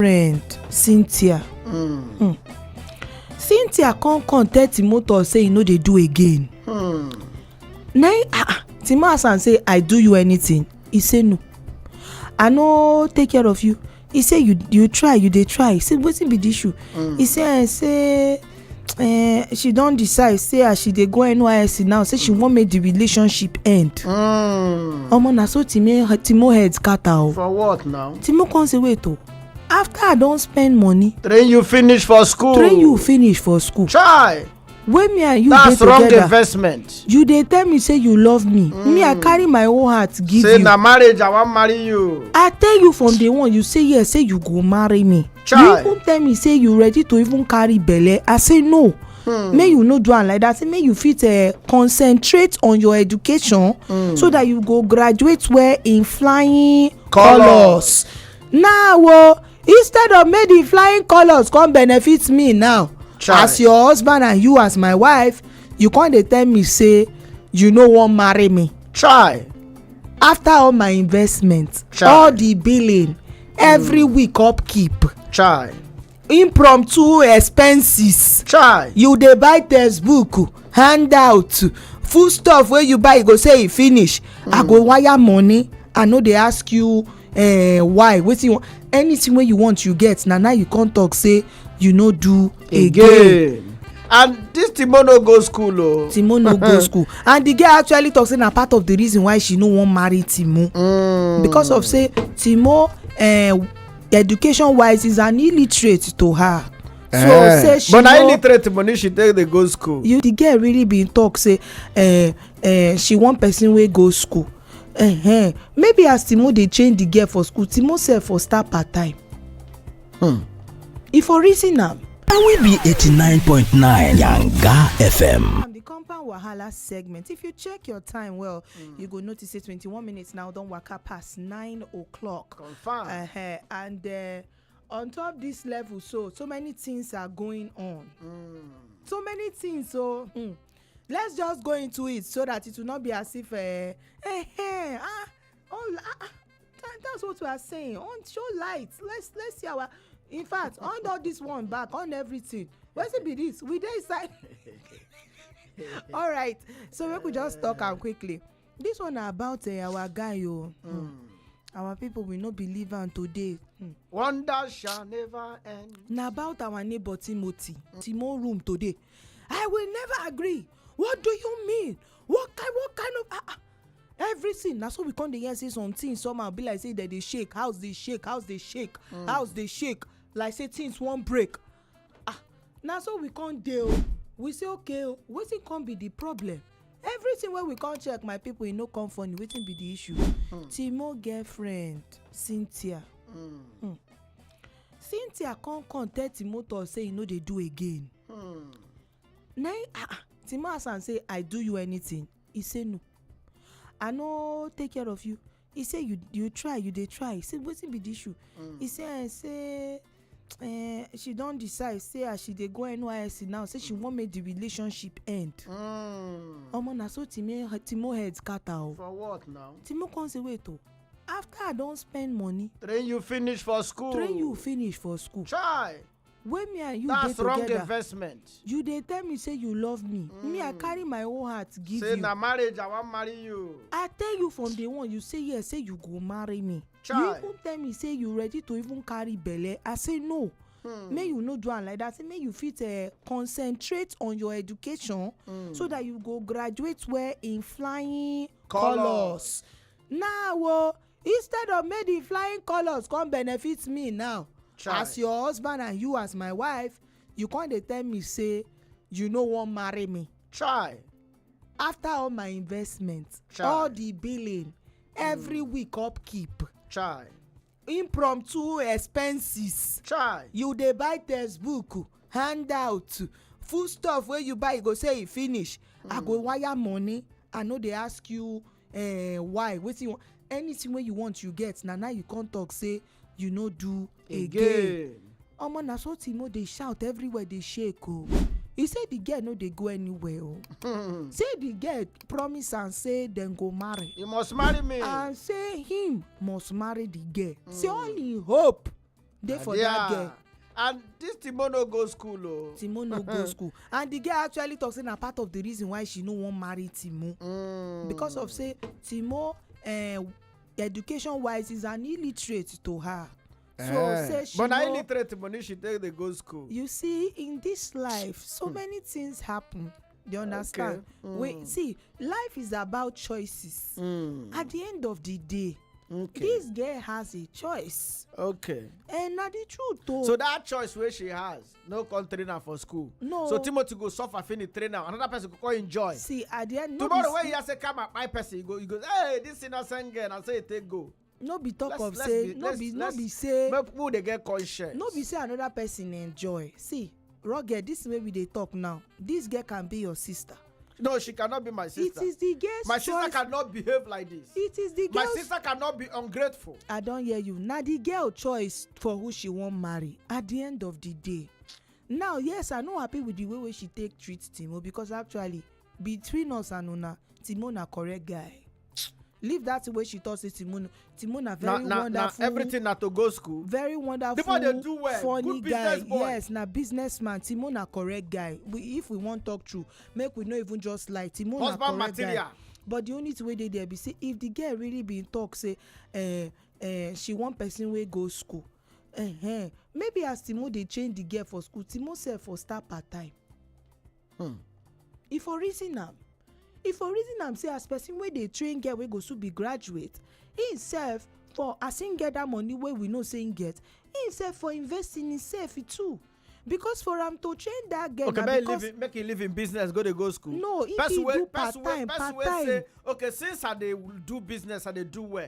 friend cynthia hmm. Hmm. cynthia come come tell timothy say he no dey do again hmm. na ah, ah, timothy say i do you anything he say no i no take care of you he say you you try you dey try he say wetin be the issue he say eh, say uh, she don decide say as she dey go nysc now say she wan make the relationship end. Mm. omo na so timo timo head scatter o. for what now. timo come say wait o after i don spend money. train you finish for school. train you finish for school. chai. wey me and you dey together that's wrong investment. you dey tell me say you love me. Mm. me i hmm. carry my whole heart give say you. say na marriage i wan marry you. i tell you from day one you say yes say you go marry me. Chai. you even tell me say you ready to even carry belle i say no mm. make you no do am like that say make you fit uh, concentrate on your education mm. so that you go graduate well in flying colours now o oh, instead of make the flying colours come benefit me now Chai. as your husband and you as my wife you come dey tell me say you no wan marry me. try. after all my investment Chai. all the billing every hmm. week upkeep chai impromptu expenses chai you dey buy textbook handout food stuff wey you buy you go say e finish i go hmm. wire money i no dey ask you eh, why wetin you want anything wey you want you get na now you come talk say you no do again and this timo no go school o oh. timo no go school and the girl actually talk say na part of the reason why she no wan marry timo mm. because of say timo eh, education wise is an illiterate to her so eh. say she but na illiterate money she take dey go school you the girl really bin talk say eh, eh, she wan person wey go school uh-huh. maybe as timo dey change the girl for school timo sef for start part time Hmm. If for reason am. And we be 89.9 Yanga FM. compound wahala segment if you check your time well mm. you go notice say 21 minutes now don waka pass 9 o'clock confam uh -huh. and uh, on top this level so so many things are going on mm. so many things so mm, let's just go into it so that it will not be as if uh, eh, eh, eh, ah all ah, ah that, that's what we are saying on show light let's let's see our in fact on all this one back on everything wetin be this we dey inside all right so make we just talk am quickly this one na about uh, our guy o. Oh. Mm. our people will not believe am today. Hmm. wonder shall never end. na about our neighbor timothy. Mm. timo room today i will never agree what do you mean what kind what kind of ah ah everything na so we come dey hear say some things somehow be like say dem dey shake house dey shake house dey shake mm. house dey shake like say things wan break ah na so we come dey o we say okay o wetin come be the problem everything wey we come check my people e no come funny wetin be the issue mm. timo girlfriend cynthia mm. Mm. cynthia come come tell timo talk say e no dey do again mm. na ah, ah timo ask am say i do you anything He say no. I no take care of you. He say you you try, you dey try. He say wetin be the issue? Mm. He say eh, say eh, she don decide say as she dey go NYSC now, say she wan make the relationship end. Mm. Omo na so Timo Timo head scatter o. For what now? Timo come say wait o. After I don spend money, Train you finish for school. train you finish for school. Try. wey me and you dey that's wrong together investment you dey tell me say you love me me i carry my whole heart give say you na marriage i wan marry you i tell you from day one you say yes say you go marry me you Chai. even tell me say you ready to even carry belle i say no Hmm. make you no do am like that say make you fit uh, concentrate on your education Hmm. so that you go graduate well in flying Colours. colours now o instead of make the flying colours come benefit me now Try. as your husband and you as my wife you come dey tell me say you no wan marry me try after all my investment Try. all the billing every mm. week upkeep try impromptu expenses try you dey buy textbook handout food stuff wey you buy you go say e finish mm. i go hmm. wire money i no dey ask you eh why wetin you want anything wey you want you get na now you come talk say you no do again again omo na so timo dey shout everywhere dey shake o e say the girl no dey go anywhere o say the girl promise am say dem go marry you must marry me and say him must marry the girl say all him hope dey for that girl and this timo no go school o oh. timo no go school and the girl actually talk say na part of the reason why she no wan marry timo mm. because of say timo eh, education wise is an illiterate to her so eh. say she but na illiterate money she take dey go school you see in this life so hmm. many things happen you understand okay. mm. we see life is about choices mm. at the end of the day okay. this girl has a choice okay and na the truth o oh. so that choice wey she has no come train am for school no so timothy go suffer finish train am another person go come enjoy see at the end no tomorrow when you hear say come and kpai person you go you go hey this innocent girl na so e take go no be talk of say no be no be say make people dey get conscience no be say another person enjoy see rugged this way we dey talk now this girl can be your sister no she cannot be my sister it is the girl's my sister cannot behave like this it is the girl's my sister cannot be ungrateful i don hear you na the girl choice for who she wan marry at the end of the day now yes i no happy with the way wey she take treat timo because actually Between us and una, Timo na correct guy. Leave that thing wey she talk say Timo no- Timo na na very na na wonderful. everything na to go school. very wonderful People dey do well, funny good business guy boy. yes na businessman timo na correct guy we, if we wan talk true make we no even just lie timo na Husband correct material. guy but the only thing wey dey there be say if the girl really bin talk say eh, eh, she wan person wey go school eh, eh, maybe as timo dey change the girl for school timo sef for start part time hmm e for reason am e for reason am say as person wey dey train girl wey go soon be graduate im sef for as im get that money wey we know say im get im sef for invest in himself too because for am to train that girl okay na make him because leave him make him leave him business go dey go school. No, if person he wey do person wey part-time, person wey part-time. say okay since i dey do business i dey do well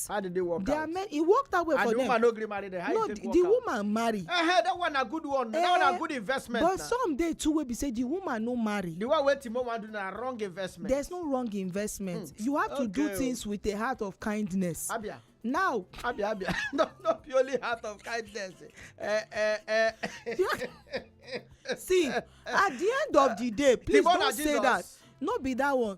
out. how did they work they out. Are men, he walked away and for the them. woman no gree marry them. How no the, the woman marry. Uh, hey, that one a good one. Uh, that one a eh, good investment. but na. some dey too wey be say the woman no marry. the one wey timo wan do na wrong investment. there's no wrong investment. Hmm. you have okay. to do oh. things with a heart of kindness. abia now. abi abi no no be only heart of kindness. Eh, eh, eh. see at the end of the day please don't say that no be that one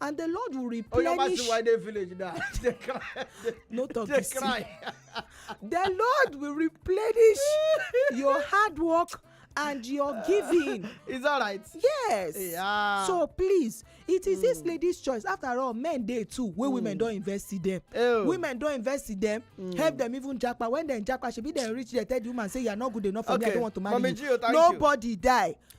and the lord will replenish. oyo ma see why dey village na dey cry no talk dey cry. the lord will replenish your hard work and your giving. it's alright. yes. Yeah. so please it is mm. this hmm. lady's choice after all men dey too wey mm. women don invest in them. Ew. women don invest in them mm. help them even japa when dem japa shebi dem reach there tell the woman say you are not good enough for okay. me i don't want to marry Mami you Gio, nobody you. die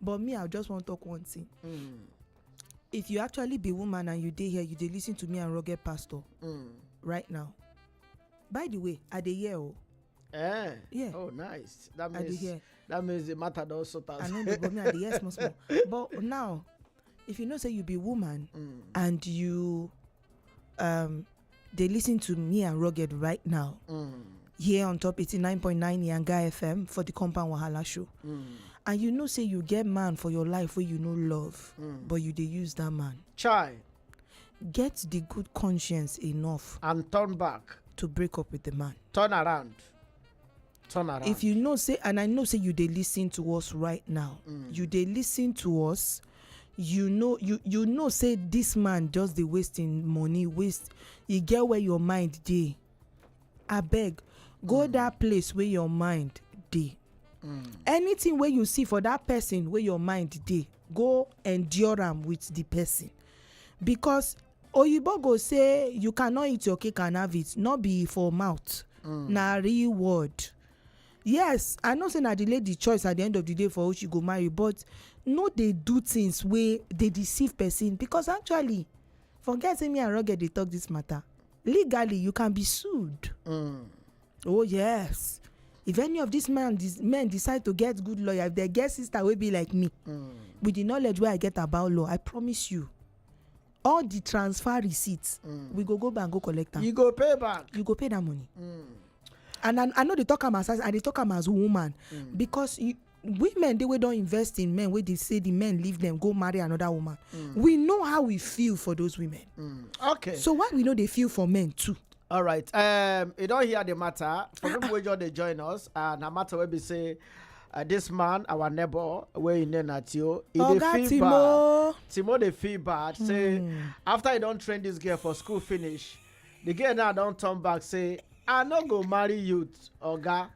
but me i just wan talk one thing mm. if you actually be woman and you dey here you dey listen to me and rugged pastor mm. right now by the way i dey hear o. Oh. Eh. Yeah. Oh, nice. That means that means the matter don sort out. I know, but me I dey hear small small. But now if you know say you be woman mm. and you um they listen to me and rugged right now mm. here on top 89.9 yanga fm for the compound wahala show mm. and you know say you get man for your life where you know love mm. but you they use that man chai get the good conscience enough and turn back to break up with the man turn around Turn around. If you know say and I know say you dey listen to us right now, you dey listen to us, you know you you know say this man just dey waste him money, waste e get where your mind dey. Abeg go that place wey your mind dey. Anything wey you see for that person wey your mind dey, go endure am with the person because Oyibo go say you cannot eat your cake and have it no be for mouth mm. na real word yes i know say na the lady choice at the end of the day for who she go marry but no dey do things wey dey deceive person because actually forget say me and rugged dey talk this matter legally you can be sued mm. oh yes if any of these men men decide to get good lawyer if they get sister wey be like me mm. with the knowledge wey i get about law i promise you all the transfer receipts mm. we go go bank go collect am you go pay back you go pay that money mm. and i i no dey talk am as i dey talk am as woman mm. because you, women dey wey don invest in men wey dey say the men leave them go marry another woman mm. we know how we feel for those women mm. okay so why we no dey feel for men too all right um you don't hear the matter for people wey just dey join us and na matter wey be say uh, this man our neighbor wey im name na tio e Oga dey feel bad Timo. timo dey feel bad say after e don train this girl for school finish the girl now don turn back say i no go marry you oga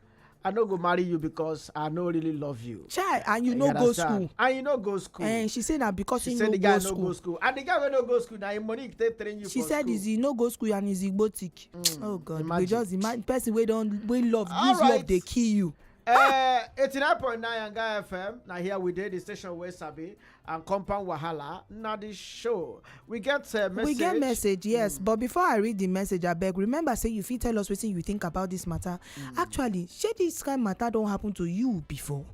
i no go marry you because i no really love you chai and you no go school and you no go school and eh, she say na because he no go school school and the guy wey no go school na him money take train you for school she said is he no go school and he's igbotic mm, oh god we just imagine person wey don wey love use love dey kill you. Uh, eh, 89.9 Yanga FM. Now here we did the station where Sabi. and compound wahala na the show we get uh, message we get message yes mm. but before i read the message abeg remember say you fit tell us wetin you think about this matter mm. actually shey this kind matter don happen to you before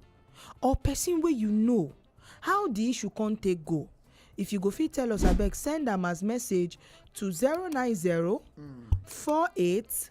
or person wey you know how the issue come take go if you go fit tell us abeg send am as message to zero nine zero mm. four eight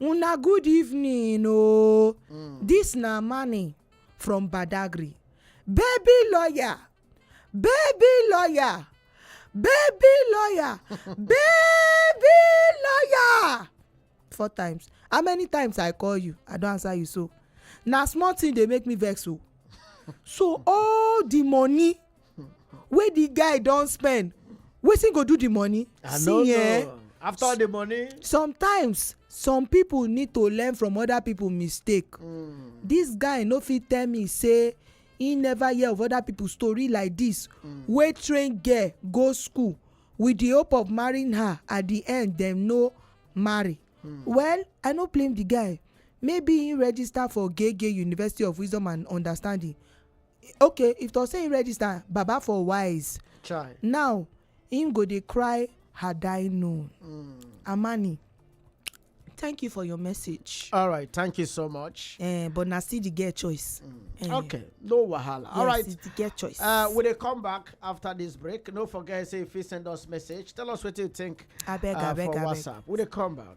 Una good evening oh. Mm. This na money from Badagry. Baby lawyer, baby lawyer, baby lawyer, baby lawyer. Four times. How many times I call you? I don't answer you so. Na small thing dey make me vex o. Oh. So all the money wey the guy don spend wetin go do the money i no see eh know after all the money sometimes some people need to learn from other people mistake mm. this guy no fit tell me say he never hear of other people story like this mm. wey train girl go school with the hope of marrying her at the end dem no marry mm. well i no blame the guy maybe he register for gege university of wisdom and understanding okay if to say he register baba for wise Chai. now him go dey cry had i known mm. amani thank you for your message. all right thank you so much. Uh, but na still the girl choice. Mm. Uh, okay no wahala. Yes, all right it's the girl choice. Uh, we dey come back after this break no forget say if you send us message tell us wetin you think. abeg uh, abeg abeg for whatsapp we dey come back.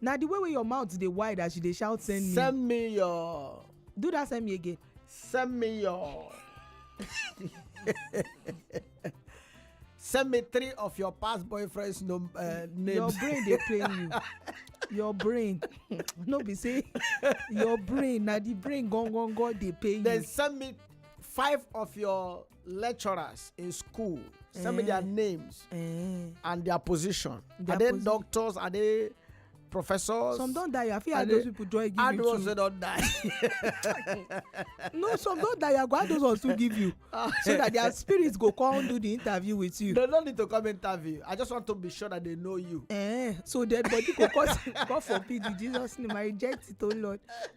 na the way wey your mouth dey wide as you dey shout send me send me your do that send me again send me your send me three of your past boyfriends no, uh, names your brain dey pain you your brain no be say your brain na the brain gangan dey pain you then send me five of your lecturers in school send me their eh. names eh. and their position are they doctors are they professors. some don die i fit add those people join give you too. add ones wey don die. no some don die i go add those ones to give you ah. so that their spirits go come do the interview with you. they no need to come interview i just want to be sure that they know you. Eh, so dead body go come come for pity jesus name i reject it o oh lord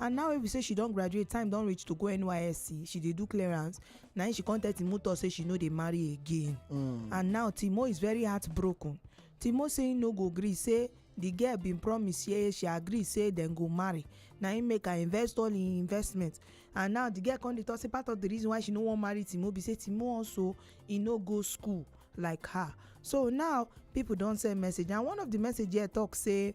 And now wey be say she don graduate, time don reach to go NYSC, she dey do clearance, na im she come tell Timo Tor say she no dey marry again. Mm. And now Timo is very heartbroken. Timo say im no go gree say the girl bin promise say she agree say dem go marry na im make her invest all im investment and now the girl come dey talk say part of the reason why she no wan marry timo be say timo also e no go school like her so now people don send message and one of the message here talk say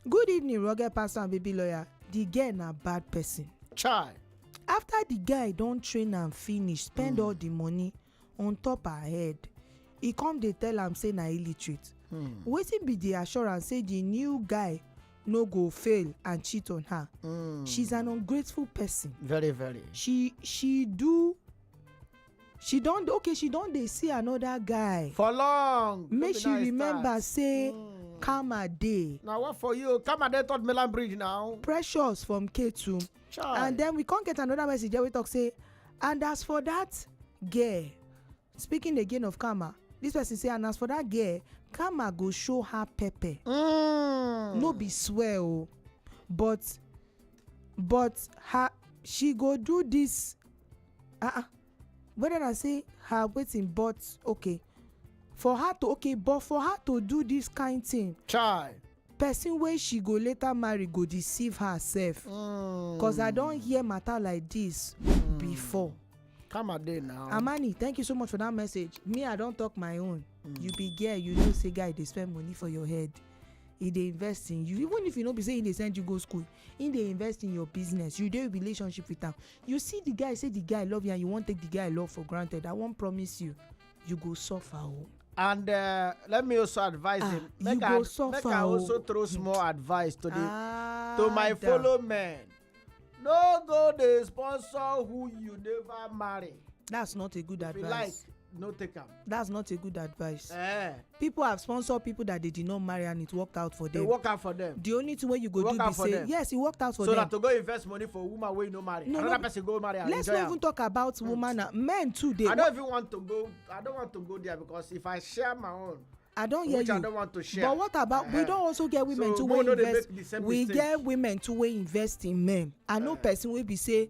Good evening, rugged pastor and baby lawyer. The girl na bad person. Chai. After the guy don train am finish, spend all the money on top her head, e come dey tell am say na illiterate. Wetin be the assurance say the new guy no go fail and cheat on her? She's an ungrateful person. Very, very. She she do she don okay she don dey see another guy for long make she remember say hmm. karma dey na what for you karma dey third milan bridge now precious from ketu and then we come get another message wey talk say and as for that girl speaking again of karma this person say and as for that girl karma go show her pepper mm. no be swear o oh. but but her she go do this ah ah whether na say her wetin but okay for her to okay but for her to do this kind thing chai person wey she go later marry go deceive herself mm. cause i don hear matter like this mm. before come a day now amani thank you so much for that message me i don talk my own mm. you be girl you know say guy dey spend money for your head e dey invest in you even if you no be say e dey send you go school Him dey invest in your business, you dey relationship with am, you see the guy say the guy love you and you wan take the guy love for granted, I wan promise you, you go suffer o. And uh, let me also advise Ah, him. you Make go I, make suffer I o. also throw small advice to the Ah, to my da. fellow men. No go dey sponsor who you never marry. That's not a good If you advice. like, no take am. that's not a good advice eh people have sponsored people that they did not marry and it worked out for they them work out for them the only thing wey you go Work do out be for say them. yes e worked out for so them that to go invest money for woman wey you no marry No, another no. person go marry and let's enjoy not am even talk about woman and men too dey i don't even want to go i don't want to go there because if i share my own i don hear which i you don't want to share but what about we Eh. don also get women So, too make wey we no dey invest make the same we mistake. get women too wey invest in men i know person wey be say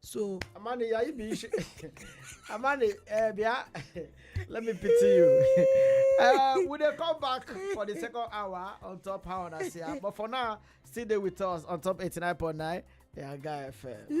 So Amani, yeah, you be Amani, uh, yeah, let me pity you. uh, we dey come back for the second hour on top how I see her. But for now, still there with us on top 89.9. Yeah, guy FM.